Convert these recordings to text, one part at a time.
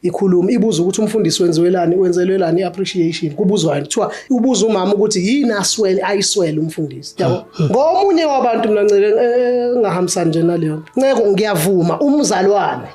ikhuluma ibuza ukuthi umfundisi wenziwelani wenzelwelani appreciation kubuzwani kuthiwa ubuza umama ukuthi yini aswele ayiswele umfundisi yabo ah, ah. ngomunye wabantu mina nceke eh, engahambisani nje naleyo nto nceke ngiyavuma umzalwane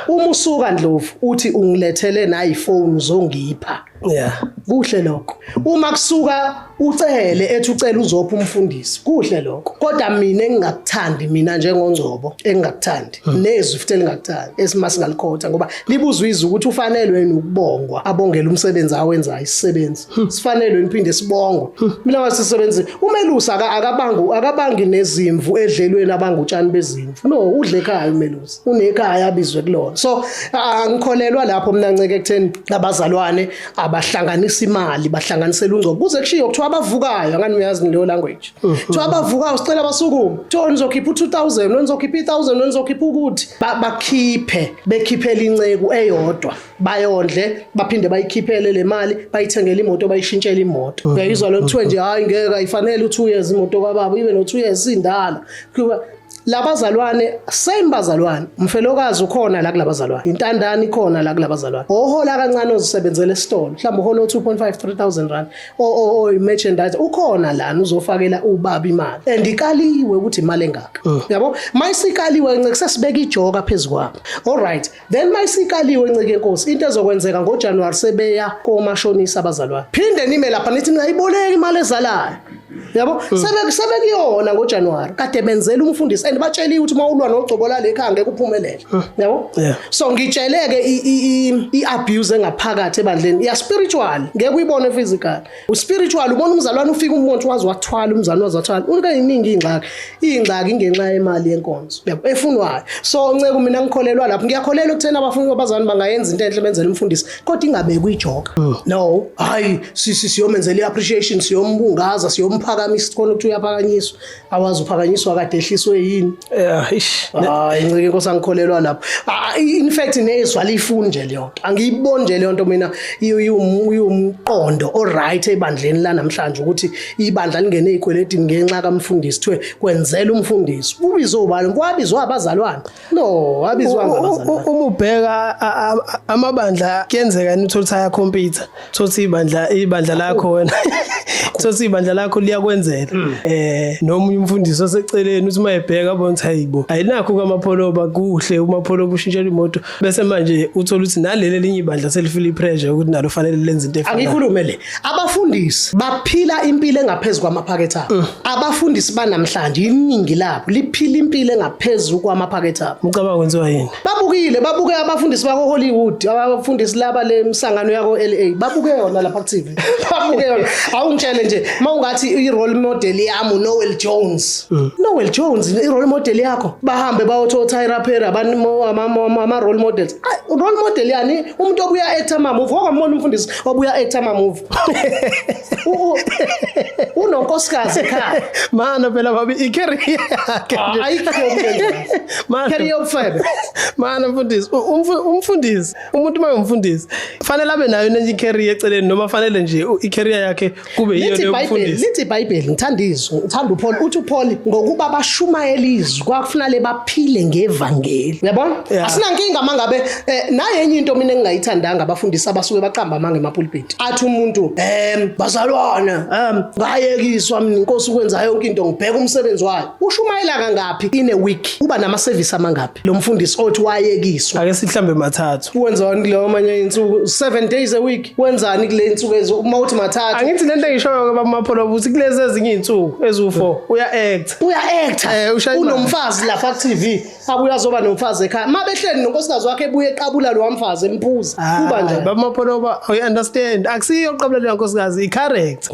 uma usuka ndlovu uthi ungilethele nayi phone zongipha Yeah, kuhle lokho. Uma kusuka ucele ethi ucela uzopha umfundisi, kuhle lokho. Kodwa mina engingakuthandi mina njengongcobo engingakuthandi hmm. nezwi futhi elingakuthandi esimase ngalikhotha ngoba libuzwa izwi ukuthi ufanelwe yini ukubongwa abongela umsebenzi awenzayo isisebenzi. Hmm. Sifanelwe yini phinde sibongwe. Hmm. Mina wasisebenzi umelusa akabangu akabangi nezimvu edlelweni abangutshani bezimvu. No, udle ekhaya umelusa. unekhaya abizwe kulona so angikholelwa lapho mina nceke ekutheni abazalwane abahlanganisa imali bahlanganisela ungcobo kuze kushiyo kuthiwa abavukayo ngani uyazi ngileyo language mm-hmm. kuthiwa abavukayo sicela basukume kuthiwa nizokhipha u-2000 wenizokhipha i-1000 wenizokhipha ukuthi bakhiphe bekhiphela inceku eyodwa bayondle baphinde bayikhiphele le mali bayithengele imoto bayishintshele imoto mm-hmm. uyayizwa lo kuthiwe nje hhayi ngeke ayifanele u-two years imoto kababa ibe no-two years indala labazalwane same bazalwane umfelokazi ukhona la kulabazalwane intandane ikhona la kulabazalwane ohola kancane ozisebenzela esitolo mhlawumbe uhola 2.5 3000 rand o o o merchandise ukhona lana uzofakela ubaba imali and ikaliwe ukuthi imali engaka mm. yabo mayisikaliwe nceke sesibeka ijoka phezukwabo all right then mayisikaliwe ncike nkosi into ezokwenzeka ngojanuwari sebeya komashonisa abazalwane phinde nime lapha nithi ningayiboleki imali ezalayo yabo hmm. sebekuyona ngojanuwari kade benzela umfundisi and batsheliwe ukuthi uma ulwa nogcobo lalekha angeke uphumelele hmm. yabo so ngitsheleke i-abuse engaphakathi ebandleni iyaspiritual ngeke uyibone physical uspiritual ubona umzalwane ufika umuntu wazi wathwala umzalwane wazi wathwala unika yiningi ingxaki ingxaki ingenxa yemali yenkonzo yabo efunwayo so nceke mina ngikholelwa lapho ngiyakholelwa ukuthena abafuni abazalwane bangayenza into enhle benzele umfundisi kodwa ingabeki uyijoka hmm. no hayi sisi siyomenzela iappreciation siyombungaza siyomphakamisa khona ukuthi uyaphakanyiswa awazi uphakanyiswa kade ehliswe yini yeah ish hayi ncike inkosi angikholelwa lapho Ah, in fact nezwa lifuni nje leyo nto angiyiboni nje leyo nto mina iyo- iwum- iwumqondo oright ebandleni la namhlanje ukuthi ibandla lingene ey'kweletini ngenxa kamfundisi kuthiwe kwenzela umfundisi ubizwe ubani kwabizwa abazalwane No, abizwanga abazali. Uma ubheka amabandla kuyenzeka yini uthola ukuthi ayakhompyutha. Thothi ibandla ibandla lakho wena. Thothi ibandla lakho liyakwenzelwa. Hmm. Eh noma umfundisi oseceleni uthi mayebheka abona ukuthi hayibo. Ayinakho kamapholoba kuhle umapholoba ushintshela imoto bese manje uthola ukuthi naleli linye ibandla selifile ipressure ukuthi nalo fanele lenze into efanayo. Angikhulume le. Abafundisi baphila impilo engaphezulu kwamaphakethe abo. Mm. Abafundisi banamhlanje iningi labo liphila impilo engaphezulu kwamaphakethe abo. Ucabanga kwenziwa yini? Babukile, babuke abafundisi bako Hollywood, abafundisi laba le misangano yako LA. Babuke yona lapha ku TV. Babuke yona. Awungitshele nje, mawungathi i role model yami Noel Jones. Mm. Noel Jones i role model yakho. Bahambe bayotho Tyra Perry abantu ama role models. Role model yani umuntu obuya actor mama uvuka kwamona umfundisi. obuya actor ama movie unonkosikazi ekhaya mana phela babi i career yakhe ah, ayikho mana career yobufebe mana mfundisi umfundisi umuntu uma umfundisi fanele abe nayo nenye i career eceleni noma fanele nje i career yakhe kube yiyo leyo mfundisi lithi iBhayibheli ngithanda izwi ngithanda uPaul uthi uPaul ngokuba bashumayela izwi kwakufuna le baphile ngevangeli uyabona yeah. asinankinga mangabe eh, naye enye into mina engingayithandanga abafundisi abasuke baqamba amanga emapulpiti athi umuntu em bazalwane em ngayekiswa mina inkosi ukwenza yonke into ngibheka umsebenzi wayo ushumayela kangaphi in a week uba nama service amangaphi Philip. Lo mfundisi othi wayekiswa. Ake sihlambe mathathu. Wenzani kuleyo manye insuku 7 days a week? Wenzani kule insuku ezo uma uthi mathathu? Angithi lento engishoyo ke baba Mapholo ukuthi kulezi ezinye insuku ezu4 uya act. Uya act. Eh, Unomfazi lapha ku TV. Abuya azoba nomfazi ekhaya. Mabehleli nonkosikazi wakhe ebuye eqabula lo mfazi empuza. Kuba nje baba Mapholo uba I understand. Akusiyo oqabula le nkosikazi i correct.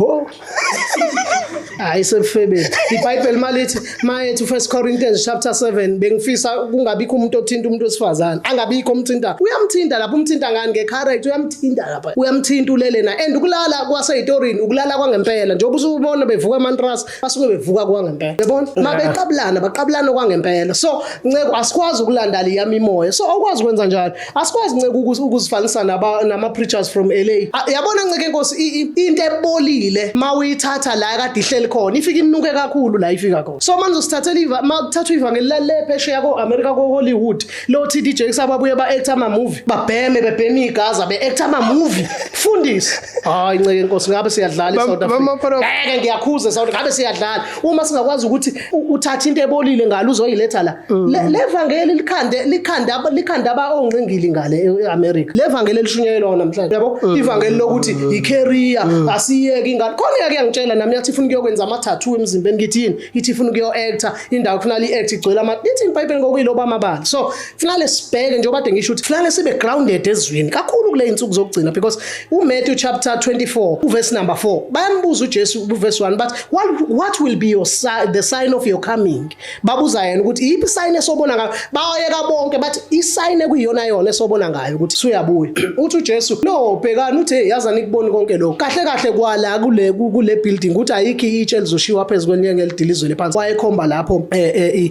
hayi sebufebeni ibhayibheli malithi mayethi first corinthians chapter 7 bengifisa kungabikho umuntu othinta umuntu wesifazane angabikho umthinta uyamthinta lapho umthinta ngani ngecarrot uyamthinta lapha uyamthinta ulele na and ukulala kwaseyitorini ukulala kwangempela njengoba usubona bevuka amantrust basuke bevuka kwangempela yabona uma beqabulana baqabulana kwangempela so nceko asikwazi ukulandala iyami imoya so awukwazi ukwenza njalo asikwazi nceke ukuzifanisa nama-preachers from la yabona nceke nkosi into ebolile ma uyithatha la kade ihleli khona ifike inuke kakhulu la ifika khona so manje usithathela ma kuthathwa ivangeli lalephesheya ko-amerika ko-hollywood lo t d jakes ababuye ba-acta amamuvi babheme bebheme igaza be-acta amamuvi fundisi hayi nceke nkosi ngabe siyadlala i-south africa ngeke ngiyakhuza south ngabe siyadlala uma singakwazi ukuthi uthatha into ebolile ngalo uzoyiletha la mm. levangeli likhande likhanda likhanda abaongqingili ngale eAmerica levangeli elishunyelwa namhlanje yabo mm. ivangeli lokuthi mm. icareer asiyeki ingane khona yake yangitshela nami yathi ifuna ukuyokwenza ama tattoo emzimbeni ngithini ithi ifuna ukuyo actor indawo kufanele iact igcwele ama ithi iBhayibheli ngokuyiloba amabala so kufanele sibheke njengoba kade ngisho ukuthi kufanele sibe grounded ezwini kakhulu kule insuku zokugcina because uMatthew chapter 24 uverse number 4 bayambuza uJesu kuverse 1 but what, what will be your sign, the sign of your coming babuza yena ukuthi iyiphi sign esobona ngayo bayeka bonke bathi isign ekuyiyona yona esobona ngayo ukuthi suyabuya uthi uJesu no bhekani uthi hey yaza nikuboni konke lokho kahle kahle kwala kule kule building ukuthi ayikho itshe elizoshiwa phezulu kwenye ngelidilizwe lephansi wayekhomba lapho eh, eh,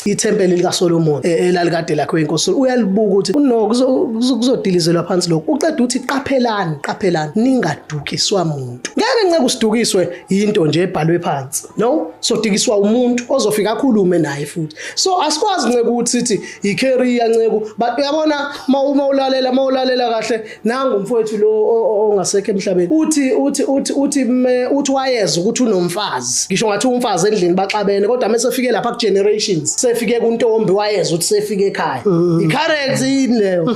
ithempeli likaSolomon e, elalikade lakho inkosi uyalibuka ukuthi no kuzodilizelwa phansi lokho uqeda uthi qaphelani qaphelani ningadukiswa muntu ngeke nceke usidukiswe yinto nje ebhalwe phansi no sodikiswa umuntu ozofika akhulume naye futhi so asikwazi nceke ukuthi sithi yicareer nceku but uyabona uma ulalela uma ulalela kahle nangu mfowethu lo ongasekho emhlabeni uthi uthi uthi uthi uthi wayeza ukuthi unomfazi ngisho ngathi umfazi endlini baxabene kodwa mase fike lapha ku generations sefike kuntombi wayeza ukuthi sefike ekhaya mm. i currency yini leyo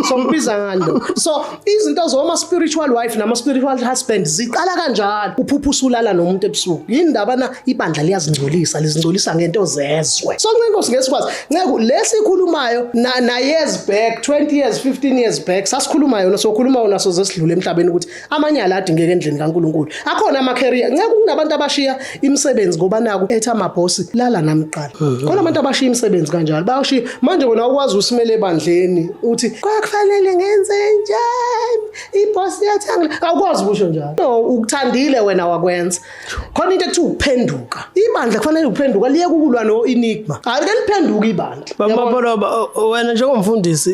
so mbiza ngani lo so izinto zoma spiritual wife nama spiritual husband ziqala kanjalo uphupha usulala nomuntu ebusuku yini ndaba na ibandla liyazingcolisa lizingcolisa ngento zezwe so ncenkosi ngesikwazi Nceku lesikhulumayo na, na years back 20 years 15 years back sasikhuluma yona sokhuluma yona soze sidlule emhlabeni ukuthi amanyala adingeke endlini kaNkuluNkulu akhona ama career nceku kunabantu abashiya imisebenzi ngoba naku etha ama boss lala namqala mhm. khona abantu abashiya imisebenzi kanjalo bayoshiya manje wena ukwazi usimele ebandleni uthi kwakufanele ngenze njani iboss yathangela awukwazi kusho njalo no ukuthandile wena wakwenza khona into ekuthiwa ukuphenduka ibandla kufanele ukuphenduka liye kukulwa no-enigma hayi ke liphenduka ibandla bababoloba wena njengomfundisi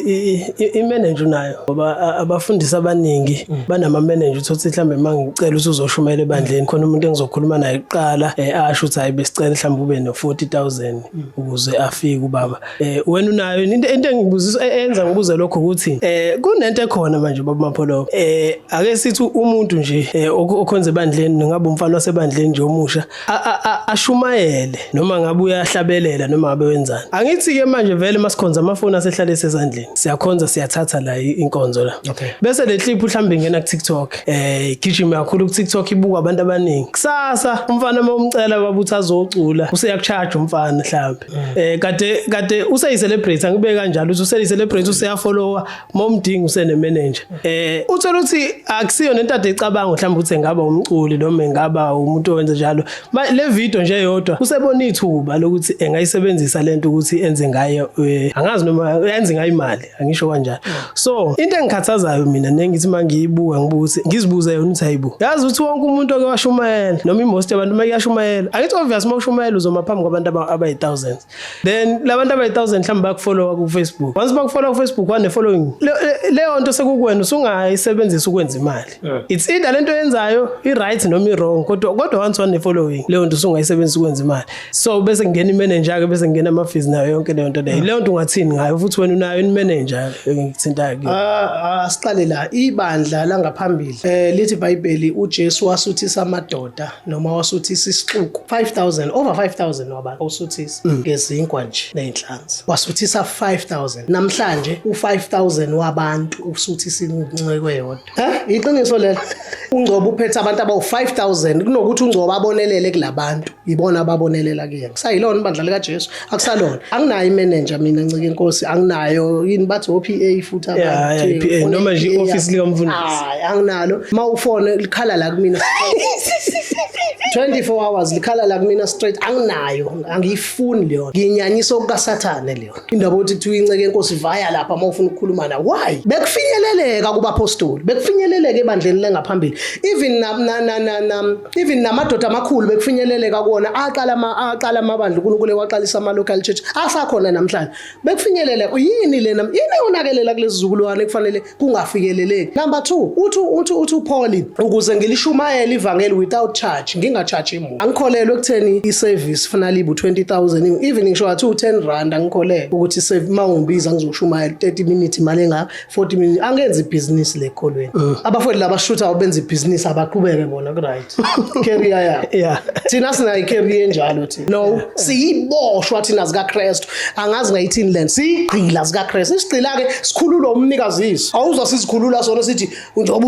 imeneja unayo ngoba abafundisi abaningi mm. banamameneja uthi uthi mhlawumbe uma ngicela ukuthi uzoshumayela ebandleni khona umuntu engizokhuluma naye kuqala um asho ukuthi hhayi besicela mhlawumbe ube no-forty thousand mm. ukuze afike ubaba Eh wena unayo into into engibuzisa e- enza ngibuze lokho ukuthi eh kunento ekhona manje baba Mapholo. Eh ake sithi umuntu nje eh, ok- okhonza ebandleni ngabe umfana wasebandleni nje omusha a- a- a- ashumayele noma ngabe uyahlabelela noma ngabe wenzani. Angithi ke manje vele masikhonza amafoni asehlale sezandleni. Siyakhonza siyathatha la i- inkonzo la. Okay. Bese le clip uhlambe ingena ku TikTok. Eh igijima kakhulu ku TikTok ibuka abantu abaningi. Kusasa umfana uma umcela babuthi azocula useyakucharge umfana mhlawumbe. eh kade kade useyi celebrate angibe kanjalo uthi useyi celebrate useya follower momdingi usene manager eh uthola ukuthi akusiyo nento ade icabanga mhlawumbe ukuthi engaba umculi noma engaba umuntu owenza njalo le video nje yodwa usebona ithuba lokuthi engayisebenzisa lento ukuthi enze ngayo eh, angazi noma yenze ngayo imali angisho kanjani so into engikhathazayo mina nengithi mangiyibuka ngibuka ukuthi ngizibuze yona ukuthi hayibo yazi ukuthi wonke umuntu oke washumayela noma imost abantu uma kuyashumayela angithi obvious uma ushumayela uzoma phambi kwabantu abayi thousands then labantu abayi thousand mhlawumbe bakufollowa ku Facebook once bakufollowa ku Facebook wane following leyo nto sekukuwena usungayisebenzisa ukwenza imali right eh. it's either lento yenzayo i right noma i wrong kodwa kodwa once one following leyo nto usungayisebenzisa ukwenza imali so bese ngena i manager ke bese ngena ama fees nayo yonke leyo nto leyo eh. leyo nto ungathini ngayo futhi wena unayo i manager ngithinta ke ah, ah siqale la ibandla langaphambili eh lithi bible uJesu wasuthisa amadoda noma wasuthisa isixuku 5000 over 5000 wabantu usuthisa mm. ngezinkwa nje nezinhlanzi wasuthisa 5000 namhlanje u5000 wabantu usuthisa incweko eyodwa eh iqiniso lelo ungcobo uphethe abantu abawu5000 kunokuthi ungcobo abonelele kulabantu ibona ababonelela kuyena kusayilona ibandla lika Jesu akusalona anginayo imenenja mina ncike inkosi anginayo yini bathi o-PA futhi abathi noma nje i-office likamfundisi hayi anginalo uma ufone likhala la kumina 24 hours likhala la kumina straight anginayo angiyifuni leyo nginyanyisa okukasathane leyo indaba ukuthi kuthiwa inceke inkosi vaya lapha uma ufuna ukukhuluma na why bekufinyeleleka kubapostoli bekufinyeleleka ebandleni lengaphambili even na na na na even namadoda amakhulu bekufinyeleleka kuwona aqala aqala amabandla uNkulunkulu ewaqalisa ama local church asakhona namhlanje bekufinyelele yini lena yini eyonakelela kulezizukulwane kufanele kungafikeleleki number 2 uthi uthi uthi uPauli ukuze ngilishumayele ivangeli without charge ngingacharge imuntu angikholelwe ekutheni iservice fanele ibu 20000 even ngisho wathi u10 rand angikholelwe ukuthi save mawungibiza ngizoshumayela 30 minutes imali engaka 40 minutes angenzi ibhizinisi le kolweni mm. abafowethu laba shutha benza ibhizinisi abaqhubeke bona ku right career ya yeah thina sina icareer enjalo thi no siyiboshwa thina zika Christ angazi ngayithini lento sigqila zika Christ isigqila ke sikhulula umnikazi awuzwa sizikhulula sona sithi njengoba